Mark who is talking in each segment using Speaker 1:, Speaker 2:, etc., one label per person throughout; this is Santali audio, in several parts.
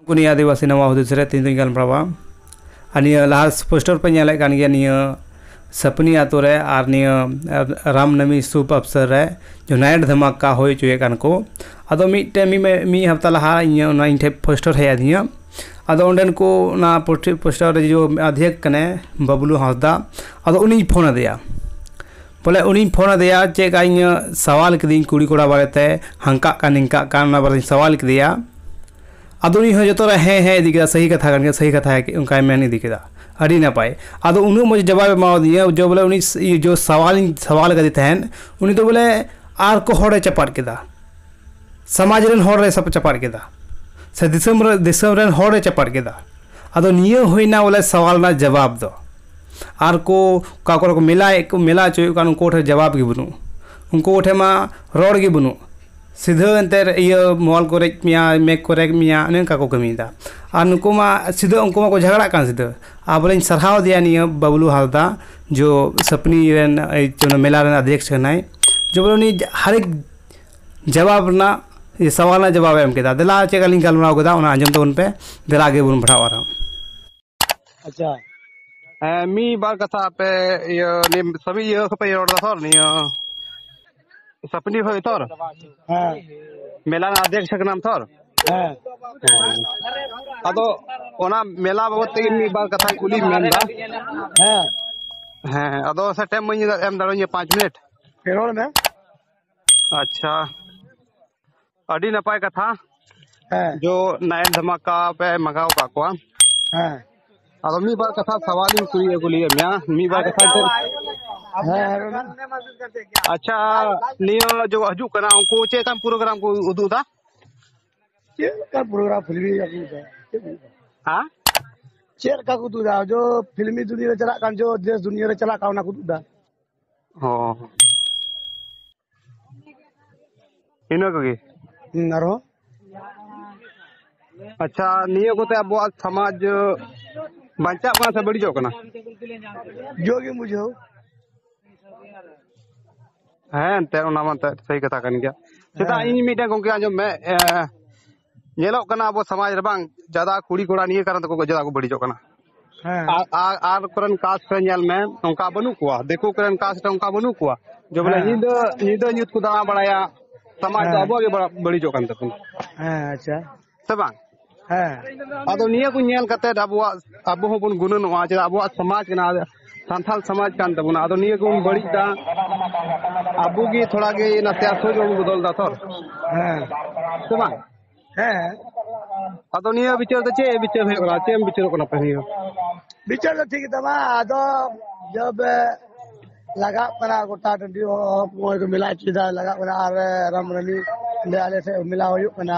Speaker 1: ᱩᱱᱠᱩ ᱟᱹᱫᱤᱵᱟᱹᱥᱤ ᱱᱟᱣᱟ ᱦᱩᱫᱤᱥ ᱨᱮ ᱛᱮᱦᱮᱧ ᱫᱚᱧ ᱜᱟᱞᱢᱟᱨᱟᱣᱟ ᱟᱨ ᱱᱤᱭᱟᱹ ᱞᱟᱦᱟ ᱯᱳᱥᱴᱟᱨ ᱯᱮ ᱧᱮᱞᱮᱫ ᱠᱟᱱ ᱜᱮᱭᱟ ᱱᱤᱭᱟᱹ ᱥᱟᱯᱱᱤ ᱟᱛᱳ ᱨᱮ ᱟᱨ ᱱᱤᱭᱟᱹ ᱨᱟᱢᱱᱟᱢᱤ ᱥᱩᱵᱷ ᱚᱵᱥᱚᱨ ᱨᱮ ᱡᱩᱱᱟᱭᱤᱴ ᱫᱷᱟᱢᱟᱠᱟ ᱦᱩᱭ ᱦᱚᱪᱚᱭᱮᱫ ᱠᱟᱱ ᱠᱚ ᱟᱫᱚ ᱢᱤᱫᱴᱮᱱ ᱢᱤᱫ ᱦᱟᱯᱛᱟ ᱞᱟᱦᱟ ᱤᱧ ᱚᱱᱟ ᱤᱧ ᱴᱷᱮᱱ ᱯᱳᱥᱴᱟᱨ ᱦᱮᱡ ᱟᱹᱫᱤᱧᱟ ᱟᱫᱚ ᱚᱸᱰᱮᱱ ᱠᱚ ᱚᱱᱟ ᱯᱳᱥᱴᱟᱨ ᱨᱮ ᱡᱮ ᱟᱫᱷᱮᱠ ᱠᱟᱱᱟᱭ ᱵᱟᱵᱞᱩ ᱦᱟᱸᱥᱫᱟ ᱟᱫᱚ ᱩᱱᱤᱧ ᱯᱷᱳᱱ ᱟᱫᱮᱭᱟ ᱵᱚᱞᱮ ᱩᱱᱤᱧ ᱯᱷᱳᱱ ᱟᱫᱮᱭᱟ ᱪᱮᱫ ᱞᱮᱠᱟ ᱤᱧ ᱥᱟᱶᱟᱞ ᱠᱤᱫᱟᱹᱧ ᱠᱩᱲᱤ ᱠᱚᱲᱟ ᱵᱟᱨᱮᱛᱮ ᱦᱟᱱᱠᱟᱜ ᱠᱟᱱ ᱱᱤᱝᱠᱟᱜ ᱠᱟᱱ ᱚᱱᱟ ᱵᱟᱨᱮᱛᱤᱧ ᱥᱟᱶᱟᱞ ᱠᱮᱫᱮᱭᱟ ᱟᱫᱚ ᱩᱱᱤ ᱦᱚᱸ ᱡᱚᱛᱚ ᱨᱮ ᱦᱮᱸ ᱦᱮᱸ ᱤᱫᱤ ᱠᱮᱫᱟ ᱥᱟᱹᱦᱤ ᱠᱟᱛᱷᱟ ᱠᱟᱱ ᱜᱮᱭᱟ ᱥᱟᱹᱦᱤ ᱠᱟᱛᱷᱟ ᱚᱱᱠᱟᱭ ᱢᱮᱱ ᱤᱫᱤ ᱠᱮᱫᱟ ᱟᱹᱰᱤ ᱱᱟᱯᱟᱭ ᱟᱫᱚ ᱩᱱᱟᱹᱜ ᱢᱚᱡᱽ ᱡᱚᱵᱟᱵᱮ ᱮᱢᱟᱣᱟᱫᱤᱧᱟ ᱡᱮ ᱵᱚᱞᱮ ᱩᱱᱤ ᱡᱮ ᱥᱟᱶᱟᱞ ᱤᱧ ᱥᱟᱶᱟᱞ ᱠᱟᱫᱮ ᱛᱟᱦᱮᱸᱫ ᱩᱱᱤ ᱫᱚ ᱵᱚᱞᱮ ᱟᱨ ᱠᱚ ᱦᱚᱲᱮ ᱪᱟᱯᱟᱫ ᱠᱮᱫᱟ ᱥᱚᱢᱟᱡᱽ ᱨᱮᱱ ᱦᱚᱲ ᱮ ᱪᱟᱯᱟᱫ ᱠᱮᱫᱟ ᱥᱮ ᱫᱤᱥᱚᱢ ᱨᱮ ᱫᱤᱥᱚᱢ ᱨᱮᱱ ᱦᱚᱲ ᱮ ᱪᱟᱯᱟᱫ ᱠᱮᱫᱟ ᱟᱫᱚ ᱱᱤᱭᱟᱹ ᱦᱩᱭᱱᱟ ᱵᱚᱞᱮ ᱥᱟᱶᱟᱞ ᱨᱮᱱᱟᱜ ᱡᱚᱵᱟᱵ ᱫᱚ ᱟᱨ ᱠᱚ ᱚᱠᱟ ᱠᱚᱨᱮ ᱠᱚ ᱢᱮᱞᱟᱭᱮᱫ ᱠᱚ ᱢᱮᱞᱟ ᱦᱚᱪᱚᱭᱮᱫ ᱠᱚ ᱩᱱᱠᱩ ᱠᱚᱴᱷᱮᱱ ᱡᱚᱵᱟᱵ ᱜᱮ ᱵᱟᱹᱱᱩᱜ ᱩᱱᱠᱩ ᱠᱚᱴᱷᱮᱱ ᱢᱟ ᱨᱚᱲ ᱜᱮ ᱵᱟᱹᱱᱩᱜ ᱥᱤᱫᱷᱟᱹ ᱮᱱᱛᱮᱫ ᱤᱭᱟᱹ ᱢᱚᱦᱚᱞ ᱠᱚ ᱨᱮᱡ ᱢᱮᱭᱟ ᱢᱮᱜᱽ ᱠᱚ ᱨᱮᱡ ᱢᱮᱭᱟ ᱚᱱᱮ ᱚᱱᱠᱟ ᱠᱚ ᱠᱟᱹᱢᱤᱭᱮᱫᱟ ᱟᱨ ᱱᱩᱠᱩ ᱢᱟ ᱥᱤᱫᱷᱟᱹ ᱩᱱᱠᱩ ᱢᱟᱠᱚ ᱡᱷᱟᱜᱽᱲᱟᱜ ᱠᱟᱱ ᱥᱤᱫᱷᱟᱹ ᱟᱨ ᱵᱚᱞᱮᱧ ᱥᱟᱨᱦᱟᱣᱫᱮᱭᱟ ᱱᱤᱭᱟᱹ ᱵᱟᱹᱵᱽᱞᱩ ᱦᱟᱸᱥᱫᱟ ᱡᱳ ᱥᱟᱹᱯᱱᱤ ᱨᱮᱱ ᱚᱱᱟ ᱢᱮᱞᱟ ᱨᱮᱱ ᱟᱫᱷᱮᱠᱥ ᱠᱟᱱᱟᱭ ᱡᱮᱢᱚᱱ ᱩᱱᱤ ᱦᱟᱨᱮᱠ ᱡᱟᱣᱟᱵᱽ ᱨᱮᱱᱟᱜ ᱥᱟᱶᱟᱨ ᱨᱮᱱᱟᱜ ᱡᱚᱵᱟᱵᱮ ᱮᱢ ᱠᱮᱫᱟ ᱫᱮᱞᱟ ᱪᱮᱫ ᱞᱮᱠᱟᱞᱤᱧ ᱜᱟᱞᱢᱟᱨᱟᱣ ᱠᱮᱫᱟ ᱚᱱᱟ ᱟᱸᱡᱚᱢ ᱛᱟᱵᱚᱱ ᱯᱮ ᱫᱮᱞᱟ ᱟᱜᱮ ᱵᱚᱱ ᱯᱟᱲᱦᱟᱜᱼᱟ ᱟᱨᱦᱚᱸ ᱟᱪᱪᱷᱟ
Speaker 2: ᱦᱮᱸ ᱢᱤᱫ ᱵᱟᱨ ᱠᱟᱛᱷᱟ ᱟᱯᱮ ᱤᱭᱟᱹ ᱱᱤᱭᱟᱹ ᱥᱟᱵᱤ ᱤᱭᱟᱹ ᱠᱷᱚᱡ ᱯᱮ ᱨᱚᱲ ᱫᱟ ᱛᱚ ᱱᱤᱭᱟᱹ ᱥᱟᱯᱱᱤ ᱠᱷᱚᱡ ᱛᱚ ᱦᱮᱸ ᱢᱮᱞᱟ ᱨᱮᱱᱟᱜ ᱟᱫᱷᱮᱠ ᱠᱟᱱᱟᱢ ᱛᱚ ᱦᱮᱸ ᱟᱫᱚ ᱚᱱᱟ ᱢᱮᱞᱟ ᱵᱟᱵᱚᱫ ᱛᱮᱜᱮ ᱢᱤᱫ ᱵᱟᱨ ᱠᱟᱛᱷᱟ ᱠᱩᱞᱤ ᱢᱮᱱ ᱫᱟ ᱦᱮᱸ ᱦᱮᱸ ᱟᱫᱚ ᱥᱮ ᱴᱟᱭᱤᱢ ᱮᱢ ᱫᱟᱲᱮᱣᱟᱹᱧᱟ ᱯᱟᱸᱪ ᱢᱤᱱᱤᱴ ᱨᱚᱲ ᱢᱮ ᱟᱪᱪᱷᱟ ᱟᱹᱰᱤ ᱱᱟᱯᱟᱭ ᱠᱟᱛᱷᱟ ᱦᱮᱸ ᱡᱚ ᱱᱟᱭᱤᱴ ᱫᱷᱟᱢᱟᱠᱟ ᱯᱮ ᱢᱟᱜᱟᱣ ᱠᱟᱜ ᱠᱚᱣᱟ ᱦᱮᱸ ᱟᱫᱚ ᱢᱤᱫ ᱵᱟᱨ ᱠᱟᱛᱷᱟ ᱥᱟᱣᱟᱞ ᱤᱧ ᱠᱩᱞᱤ ᱟᱹᱜᱩ ᱞᱮᱭᱟ ᱢᱮᱭᱟ ᱢᱤᱫ ᱵᱟᱨ ᱠᱟᱛᱷᱟ ᱫᱚ ᱟᱪᱪᱷᱟ ᱱᱤᱭᱟᱹ ᱡᱚ ᱦᱤᱡᱩᱜ ᱠᱟᱱᱟ ᱩᱱᱠᱩ ᱪᱮᱫ ᱞᱮᱠᱟᱱ ᱯᱨᱳᱜᱨᱟᱢ ᱠᱚ ᱩᱫᱩᱜ ᱮᱫᱟ
Speaker 3: ᱪᱮᱫ ᱞᱮᱠᱟ ᱯᱨᱳᱜᱨᱟᱢ ᱯᱷᱤᱞᱢᱤ ᱟᱹᱜᱩ ᱮᱫᱟ ᱦᱮᱸ
Speaker 2: ᱪᱮᱫ
Speaker 3: ᱞᱮᱠᱟ ᱠᱚ ᱩᱫᱩᱜ ᱮᱫᱟ ᱡᱚ ᱯᱷᱤᱞᱢᱤ ᱫᱩᱱᱤᱭᱟᱹ ᱨᱮ ᱪᱟᱞᱟᱜ ᱠᱟᱱ ᱡᱚ ᱫᱮᱥ ᱫᱩᱱᱤᱭᱟᱹ ᱨᱮ ᱪᱟᱞᱟᱜ ᱠᱟᱱ ᱚᱱᱟ ᱠᱚ ᱩᱫᱩᱜ ᱮᱫᱟ ᱚ
Speaker 2: ᱤᱱᱟᱹ ᱠᱚᱜᱮ ᱦᱩᱸ, ᱟᱨᱦᱚᱸ ᱟᱪᱪᱷᱟ ᱱᱤᱭᱟᱹ ᱠᱚᱛᱮ ᱟᱵᱚᱣᱟᱜ ᱥᱚᱢᱟᱡᱽ ᱵᱟᱧᱪᱟᱜ ᱠᱟᱱᱟ ᱥᱮ ᱵᱟᱹᱲᱤᱡᱚᱜ ᱠᱟᱱᱟ ᱡᱳ
Speaker 3: ᱜᱮᱢ ᱵᱩᱡᱷᱟᱹᱣ
Speaker 2: ᱦᱮᱸ ᱮᱱᱛᱮᱫ ᱚᱱᱟ ᱢᱟ ᱮᱱᱛᱮᱫ ᱥᱟᱹᱦᱤ ᱠᱟᱛᱷᱟ ᱠᱟᱱ ᱜᱮᱭᱟ ᱪᱮᱫᱟᱜ ᱤᱧ ᱢᱤᱫᱴᱮᱱ ᱜᱚᱝᱠᱮ ᱟᱸᱡᱚᱢ ᱢᱮ ᱮ, ᱧᱮᱞᱚᱜ ᱠᱟᱱᱟ ᱟᱵᱚ ᱥᱚᱢᱟᱡᱽ ᱨᱮ ᱵᱟᱝ ᱡᱟᱫᱟ ᱠᱩᱲᱤ ᱠᱚᱲᱟ ᱱᱤᱭᱟᱹ ᱠᱟᱨᱚᱱ ᱛᱮᱠᱚ ᱡᱟᱫᱟ ᱠᱚ ᱵᱟᱹᱲᱤᱡᱚᱜ ᱠᱟᱱᱟ ᱦᱮᱸ ᱟᱨ ᱟᱨ- ᱟᱨ ᱠᱚᱨᱮᱱ ᱠᱟᱥ ᱨᱮ ᱧᱮᱞ ᱢᱮ ᱚᱱᱠᱟ ᱵᱟᱹᱱᱩᱜ ᱠᱚᱣᱟ ᱫᱤᱠᱩ ᱠᱚᱨᱮᱱ ᱠᱟᱥ ᱨᱮ ᱚᱱᱠᱟ ᱵᱟᱹᱱᱩᱜ ᱠᱚᱣᱟ ᱡᱮ ᱵᱚᱞᱮ ᱦᱮᱸ᱾ ᱧᱤᱫᱟᱹ ᱧᱤᱫᱟᱹ ᱧᱩᱛ ᱠᱚ ᱫᱟᱬᱟ ᱵᱟᱲᱟᱭᱟ ᱥᱚᱢᱟᱡᱽ ᱫᱚ ᱦᱮᱸ᱾ ᱟᱵᱚᱣᱟᱜ ᱜᱮ ᱵᱟᱲᱟ- ᱵᱟᱹᱲᱤᱡᱚᱜ ᱠᱟᱱ ᱛᱟᱵᱚᱱᱟ ᱦᱮᱸ ᱟᱪᱪᱷᱟ
Speaker 3: ᱥᱮ ᱵᱟᱝ
Speaker 2: ᱦᱮᱸ ᱟᱫᱚ ᱱᱤᱭᱟᱹ ᱠᱚ ᱧᱮᱞ ᱠᱟᱛᱮ ᱟᱵᱚᱣᱟᱜ ᱟᱵᱚ ᱦᱚᱸᱵᱚᱱ ᱜᱩᱱᱟᱹᱱᱚᱜᱼᱟ ᱪᱮᱫᱟᱜ ᱟᱵᱚᱣᱟᱜ ᱥᱚᱢᱟᱡᱽ ᱠᱟᱱᱟ ᱥᱟᱱᱛᱟᱞ ᱥᱚᱢᱟᱡᱽ ᱠᱟᱱ ᱛᱟᱵᱚᱱᱟ ᱟᱫᱚ ᱱᱤᱭᱟᱹ ᱠᱚᱵᱚᱱ ᱵᱟᱹᱲᱤᱡ ᱫᱟ ᱟᱵᱚ ᱜᱮ ᱛᱷᱚᱲᱟ ᱜᱮ ᱱᱟᱥᱮ ᱟᱥᱚᱡ ᱵᱚᱱ ᱵᱚᱫᱚᱞ ᱫᱟ ᱛᱷᱚᱨ ᱦᱮᱸ ᱥᱮ ᱵᱟᱝ ᱦᱮᱸ ᱟᱫᱚ ᱱᱤᱭᱟᱹ ᱵᱤᱪᱟᱹᱨ ᱫᱚ ᱪᱮᱫ ᱵᱤᱪᱟᱹᱨ ᱦᱩᱭᱩᱜ ᱠᱟᱱᱟ ᱪᱮᱫ ᱮᱢ ᱵᱤᱪᱟᱹᱨᱚᱜ ᱠᱟᱱᱟ ᱯᱮ ᱱᱤᱭᱟᱹ ᱵᱤᱪᱟᱹᱨ ᱫᱚ
Speaker 3: ᱴᱷᱤᱠ ᱜᱮᱛᱟᱢᱟ ᱟᱫᱚ ᱡᱚᱵ ᱞᱟᱜᱟᱜ ᱠᱟᱱᱟ ᱜᱚᱴᱟ ᱴᱟᱺᱰᱤ ᱦᱚᱸ ᱱᱚᱜᱼᱚᱭ ᱠᱚ ᱢᱮᱞᱟ ᱦᱚᱪᱚᱭᱮᱫᱟ ᱞᱟᱜᱟᱜ ᱠᱟᱱᱟ ᱟᱨ ᱨᱟᱢ ᱨᱟᱱᱤ ᱚᱸᱰᱮ ᱟᱞᱮ ᱴᱷᱮᱡ ᱢᱮᱞᱟ ᱦᱩᱭᱩᱜ ᱠᱟᱱᱟ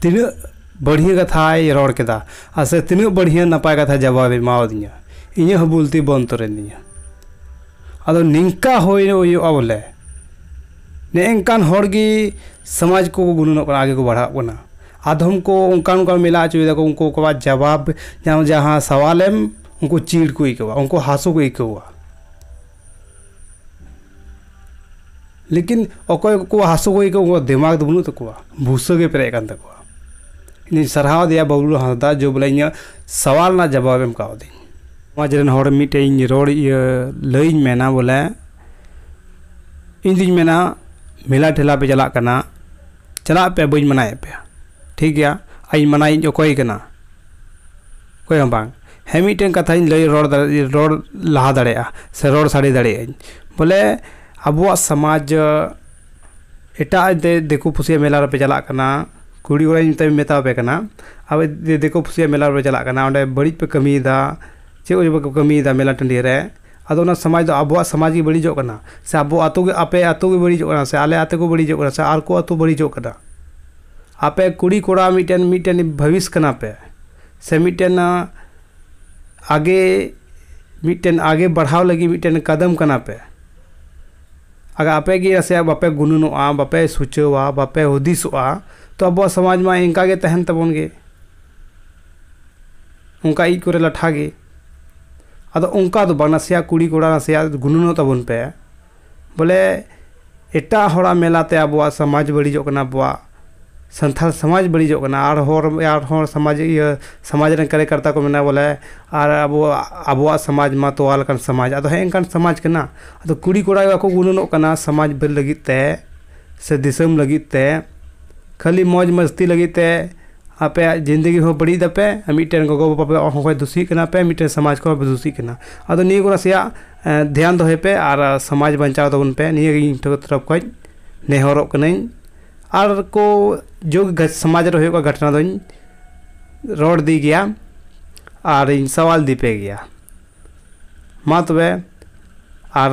Speaker 1: ᱛᱤᱱᱟᱹᱜ ᱵᱟᱹᱲᱦᱤᱭᱟᱹ ᱠᱟᱛᱷᱟᱭ ᱨᱚᱲ ᱠᱮᱫᱟ ᱟᱨ ᱥᱮ ᱛᱤᱱᱟᱹᱜ ᱵᱟᱹᱲᱦᱤᱭᱟᱹ ᱱᱟᱯᱟᱭ ᱠᱟᱛᱷᱟ ᱡᱟᱵᱟᱵᱮ ᱮᱢᱟᱣᱟᱫᱤᱧᱟ ᱤᱧᱟᱹᱜ ᱦᱚᱸ ᱵᱩᱞᱛᱤ ᱵᱚᱱ ᱛᱚᱨᱮᱱ ᱛᱤᱧᱟᱹ ᱟᱫᱚ ᱱᱤᱝᱠᱟ ᱦᱩᱭ ᱦᱩᱭᱩᱜᱼᱟ ᱵᱚᱞᱮ ᱱᱮᱝᱠᱟᱱ ᱦᱚᱲ ᱜᱮ ᱥᱚᱢᱟᱡᱽ ᱠᱚ ᱜᱩᱱᱟᱹᱱᱚᱜ ᱠᱟᱱᱟ ᱟᱜᱮ ᱠᱚ ᱵᱟᱲᱦᱟᱜ ᱠᱟᱱᱟ ᱟᱫᱷᱚᱢ ᱠᱚ ᱚᱱᱠᱟ ᱚᱱᱠᱟ ᱢᱮᱞᱟ ᱦᱚᱪᱚᱭ ᱫᱟᱠᱚ ᱩᱱᱠᱩ ᱠᱚᱣᱟᱜ ᱡᱟᱵᱟᱵ ᱡᱟᱦᱟᱸ ᱥᱟᱶᱟᱞᱮᱢ ᱩᱱᱠᱩ ᱪᱤᱲ ᱠᱚ ᱟᱹᱭᱠᱟᱹᱣᱟ ᱩᱱᱠᱩ ᱦᱟᱹᱥᱩ ᱠᱚ ᱟᱹᱭᱠᱟᱹᱣᱟ ᱞᱮᱠᱤᱱ ᱚᱠᱚᱭ ᱠᱚᱠᱚ ᱦᱟᱹᱥᱩ ᱜᱚᱡ ᱠᱚ ᱩᱱᱠᱩᱣᱟᱜ ᱫᱮᱢᱟᱜᱽ ᱫᱚ ᱵᱟᱹᱱᱩᱜ ᱛᱟᱠᱚᱣᱟ ᱵᱷᱩᱥᱟᱹ ᱜᱮ ᱯᱮᱨᱮᱡ ᱟᱠᱟᱱ ᱛᱟᱠᱚᱣᱟ ᱤᱧᱤᱧ ᱥᱟᱨᱦᱟᱣ ᱮᱫᱮᱭᱟ ᱵᱟᱹᱵᱽᱞᱩ ᱦᱟᱸᱥᱫᱟ ᱡᱮ ᱵᱚᱞᱮ ᱤᱧᱟᱹᱜ ᱥᱟᱶᱟᱞ ᱨᱮᱱᱟᱜ ᱡᱟᱵᱟᱵᱽ ᱮᱢ ᱠᱟᱣᱫᱤᱧ ᱥᱚᱢᱟᱡᱽ ᱨᱮᱱ ᱦᱚᱲ ᱢᱤᱫᱴᱮᱡ ᱤᱧ ᱨᱚᱲ ᱤᱭᱟᱹ ᱞᱟᱹᱭᱟᱹᱧ ᱢᱮᱱᱟ ᱵᱚᱞᱮ ᱤᱧᱫᱩᱧ ᱢᱮᱱᱟ ᱢᱮᱞᱟ ᱴᱷᱮᱞᱟ ᱯᱮ ᱪᱟᱞᱟᱜ ᱠᱟᱱᱟ ᱪᱟᱞᱟᱜ ᱯᱮ ᱵᱟᱹᱧ ᱢᱟᱱᱟᱭᱮᱫ ᱯᱮᱭᱟ ᱴᱷᱤᱠ ᱜᱮᱭᱟ ᱟᱨ ᱤᱧ ᱢᱟᱱᱟᱭᱤᱡ ᱚᱠᱚᱭ ᱠᱟᱱᱟ ᱚᱠᱚᱭ ᱦᱚᱸ ᱵᱟᱝ ᱦᱮᱸ ᱢᱤᱫᱴᱮᱱ ᱠᱟᱛᱷᱟᱧ ᱞᱟᱹᱭ ᱨᱚᱲ ᱫᱟᱲᱮᱭᱟᱜᱼᱟ ᱨᱚᱲ ᱞᱟᱦᱟ ᱫᱟᱲᱮᱭᱟᱜᱼᱟ ᱥᱮ ᱨᱚᱲ ᱥᱟᱰᱮ ᱫᱟᱲᱮᱭᱟᱜ ᱟᱹᱧ ᱵᱚᱞᱮ ᱟᱵᱚᱣᱟᱜ ᱥᱚᱢᱟᱡᱽ ᱮᱴᱟᱜ ᱫᱤᱠᱩ ᱯᱩᱥᱤᱭᱟᱜ ᱢᱮᱞᱟ ᱨᱮᱯᱮ ᱪᱟᱞᱟᱜ ᱠᱟᱱᱟ ᱠᱩᱲᱤ ᱠᱚᱲᱟ ᱱᱤᱛᱚᱜ ᱤᱧ ᱢᱮᱛᱟᱣᱟᱯᱮ ᱠᱟᱱᱟ ᱟᱯᱮ ᱡᱩᱫᱤ ᱫᱤᱠᱩ ᱯᱩᱥᱤᱭᱟᱜ ᱢᱮᱞᱟ ᱨᱮᱯᱮ ᱪᱟᱞᱟᱜ ᱠᱟᱱᱟ ᱚᱸᱰᱮ ᱵᱟᱹᱲᱤᱡ ᱯᱮ ᱠᱟᱹᱢᱤᱭᱮᱫᱟ ᱪᱮᱫ ᱠᱚᱪᱚ ᱯᱮ ᱠᱟᱹᱢᱤᱭᱮᱫᱟ ᱢᱮᱞᱟ ᱴᱟᱺᱰᱤ ᱨᱮ ᱟᱫᱚ ᱚᱱᱟ ᱥᱚᱢᱟᱡᱽ ᱫᱚ ᱟᱵᱚᱣᱟᱜ ᱥᱚᱢᱟᱡᱽ ᱜᱮ ᱵᱟᱹᱲᱤᱡᱚᱜ ᱠᱟᱱᱟ ᱥᱮ ᱟᱵᱚ ᱟᱛᱳ ᱜᱮ ᱟᱯᱮ ᱟᱛᱳ ᱜᱮ ᱵᱟᱹᱲᱤᱡᱚᱜ ᱠᱟᱱᱟ ᱥᱮ ᱟᱞᱮ ᱟᱛᱳ ᱜᱮ ᱵᱟᱹᱲᱤᱡᱚᱜ ᱠᱟᱱᱟ ᱥᱮ ᱟᱨ ᱠᱚ ᱟᱛᱳ ᱵᱟᱹᱲᱤᱡᱚᱜ ᱠᱟᱱᱟ ᱟᱯᱮ ᱠᱩᱲᱤ ᱠᱚᱲᱟ ᱢᱤᱫᱴᱮᱱ ᱢᱤᱫᱴᱮᱱ ᱵᱷᱟᱹᱵᱤᱥ ᱠᱟᱱᱟ ᱯᱮ ᱥᱮ ᱢᱤᱫᱴᱮᱱ ᱟᱜᱮ ᱢᱤᱫᱴᱮᱱ ᱟᱜᱮ ᱵᱟᱲᱦᱟᱣ ᱞᱟᱹᱜᱤᱫ ᱢᱤᱫᱴᱮᱱ ᱠᱟᱫᱚᱢ ᱠᱟᱱᱟ ᱯᱮ ᱟᱫᱚ ᱟᱯᱮ ᱜᱮ ᱱᱟᱥᱮᱭᱟᱜ ᱵᱟᱯᱮ ᱜᱩᱱᱟᱹᱱᱚᱜᱼᱟ ᱵᱟᱯᱮ ᱥᱩᱪᱟᱹᱣᱟ ᱵᱟᱯᱮ ᱦᱩᱫᱤᱥᱚᱜᱼᱟ ᱛᱚ ᱟᱵᱚᱣᱟᱜ ᱥᱚᱢᱟᱡᱽ ᱢᱟ ᱤᱱᱠᱟᱹ ᱜᱮ ᱛᱟᱦᱮᱱ ᱛᱟᱵᱚᱱ ᱜᱮ ᱚᱱᱠᱟ ᱤᱡ ᱠᱚᱨᱮ ᱞᱟᱴᱷᱟ ᱜᱮ ᱟᱫᱚ ᱚᱱᱠᱟ ᱫᱚ ᱵᱟᱝ ᱱᱟᱥᱮᱭᱟᱜ ᱠᱩᱲᱤ ᱠᱚᱲᱟ ᱱᱟᱥᱮᱭᱟᱜ ᱜᱩᱱᱟᱹᱱᱚᱜ ᱛᱟᱵᱚᱱ ᱯᱮ ᱵᱚᱞᱮ ᱮᱴᱟᱜ ᱦᱚᱲᱟᱜ ᱢᱮᱞᱟ ᱛᱮ ᱟᱵᱚᱣᱟᱜ ᱥᱚᱢᱟᱡᱽ ᱵᱟᱹᱲᱤᱡᱚᱜ ᱠᱟᱱᱟ ᱟᱵᱚᱣᱟᱜ ᱥᱟᱱᱛᱟᱲ ᱥᱚᱢᱟᱡᱽ ᱵᱟᱹᱲᱤᱡᱚᱜ ᱠᱟᱱᱟ ᱟᱨ ᱦᱚᱲ ᱟᱨ ᱦᱚᱲ ᱥᱚᱢᱟᱡᱽ ᱤᱭᱟᱹ ᱥᱚᱢᱟᱡᱽ ᱨᱮᱱ ᱠᱟᱨᱭᱚᱠᱚᱨᱛᱟ ᱠᱚ ᱢᱮᱱᱟ ᱵᱚᱞᱮ ᱟᱨ ᱟᱵᱚᱣᱟᱜ ᱟᱵᱚᱣᱟᱜ ᱥᱚᱢᱟᱡᱽ ᱢᱟ ᱛᱚᱣᱟ ᱞᱮᱠᱟᱱ ᱥᱚᱢᱟᱡᱽ ᱟᱫᱚ ᱦᱮᱸᱜᱼᱮ ᱱᱤᱝᱠᱟᱱ ᱥᱚᱢᱟᱡᱽ ᱠᱟᱱᱟ ᱟᱫᱚ ᱠᱩᱲᱤ ᱠᱚᱲᱟ ᱜᱮ ᱵᱟᱠᱚ ᱜᱩᱱᱟᱹᱱᱚᱜ ᱠᱟᱱᱟ ᱥᱚᱢᱟᱡᱽ ᱞᱟᱹᱜᱤᱫ ᱛᱮ ᱥᱮ ᱫᱤᱥᱚᱢ ᱞᱟᱹᱜᱤᱫ ᱛᱮ ᱠᱷᱟᱹᱞᱤ ᱢᱚᱡᱽ ᱢᱟᱹᱥᱛᱤ ᱞᱟᱹᱜᱤᱫ ᱛᱮ ᱟᱯᱮᱭᱟᱜ ᱡᱤᱱᱫᱮᱜᱤ ᱦᱚᱸ ᱵᱟᱹᱲᱤᱡ ᱫᱟᱯᱮ ᱟᱨ ᱢᱤᱫᱴᱮᱱ ᱜᱚᱜᱚ ᱵᱟᱵᱟ ᱦᱚᱸ ᱯᱮ ᱫᱩᱥᱤᱜ ᱠᱟᱱᱟ ᱯᱮ ᱢᱤᱫᱴᱮᱱ ᱥᱚᱢᱟᱡᱽ ᱠᱚᱦᱚᱸ ᱯᱮ ᱫᱩᱥᱤᱜ ᱠᱟᱱᱟ ᱟᱫᱚ ᱱᱤᱭᱟᱹ ᱠᱚ ᱱᱟᱥᱮᱭᱟᱜ ᱫᱷᱮᱭᱟᱱ ᱫᱚᱦᱚᱭ ᱯᱮ ᱟᱨ ᱥᱚᱢᱟᱡᱽ ᱵᱟᱧᱪᱟᱣ ᱛᱟᱵᱚᱱ ᱯᱮ ᱱᱤᱭᱟᱹ ᱜᱮ ᱤᱧ ᱛᱚᱨᱚᱯᱷ ᱠᱷᱚᱱ ᱱᱮᱦᱚᱨᱚᱜ ᱠᱟᱹᱱᱟᱹᱧ ᱟᱨ ᱠᱚ ᱡᱩᱜᱽ ᱥᱚᱢᱟᱡᱽ ᱨᱮ ᱦᱩᱭᱩᱜ ᱠᱟᱱ ᱜᱷᱚᱴᱚᱱᱟ ᱫᱚᱧ ᱨᱚᱲ ᱤᱫᱤ ᱜᱮᱭᱟ ᱟᱨᱤᱧ ᱥᱟᱶᱟᱞ ᱤᱫᱤ ᱯᱮ ᱜᱮᱭᱟ ᱢᱟ ᱛᱚᱵᱮ ᱟᱨ